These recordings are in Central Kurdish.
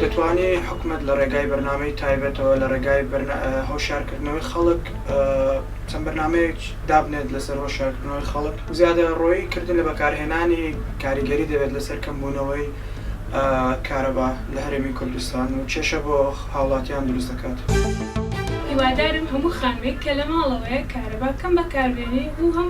دەتوانێ حکومەت لە ڕێگای بەرنامەی تایبەتەوە لە ڕێگای هۆشارکردنەوەی خەڵک چەند بەرنمەیەک دابنێت لەسەر هۆشارکردنەوەی خەڵک زیادە ڕۆیی کردن لە بەکارهێنانی کاریگەری دەبێت لەسەر کەمبوونەوەی کارەبا لە هەرێمی کوردستان و کێشە بۆ هاوڵاتیان دروست دەکات. هیوادارم هەموو خانووێک کە لە ماڵەوەیە کارەبا کەم بەکاربێنی و هەم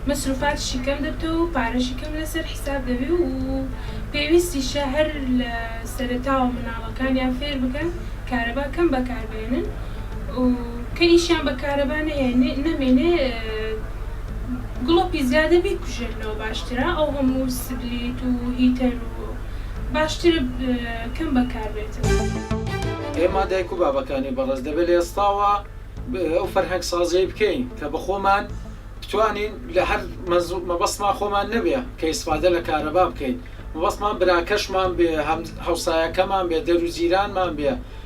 مەسروفاتیشی کەم دەبتەوە و پارەشی کەم لەسەر حیساب دەبی و پێویستیشە هەر لە سەرەتاوە مناڵەکانیان فێر بکەن کارەبا کەم بەکاربێنن و کە ئیشیان بە کارەبا نەمێنێ گوڵە پیزادە بیکوژێنەوە باشترە ئەو هەموو سبلیت و هیتەر و باشترە کەم بەکار بێتەوە. ئێمە دایک و بابەکانی بەڕێز دەبێت لە ئێستاوە ئەو فەرهەنگ سازیەی بکەین کە بە خۆمان بتوانین لە هەر مەبەستمان خۆمان نەبێ کە ئیسفادە لە کارەبا بکەین مەبەستمان براکەشمان بێ هەمسایەکەمان بێ دەرو جیرانمان بێ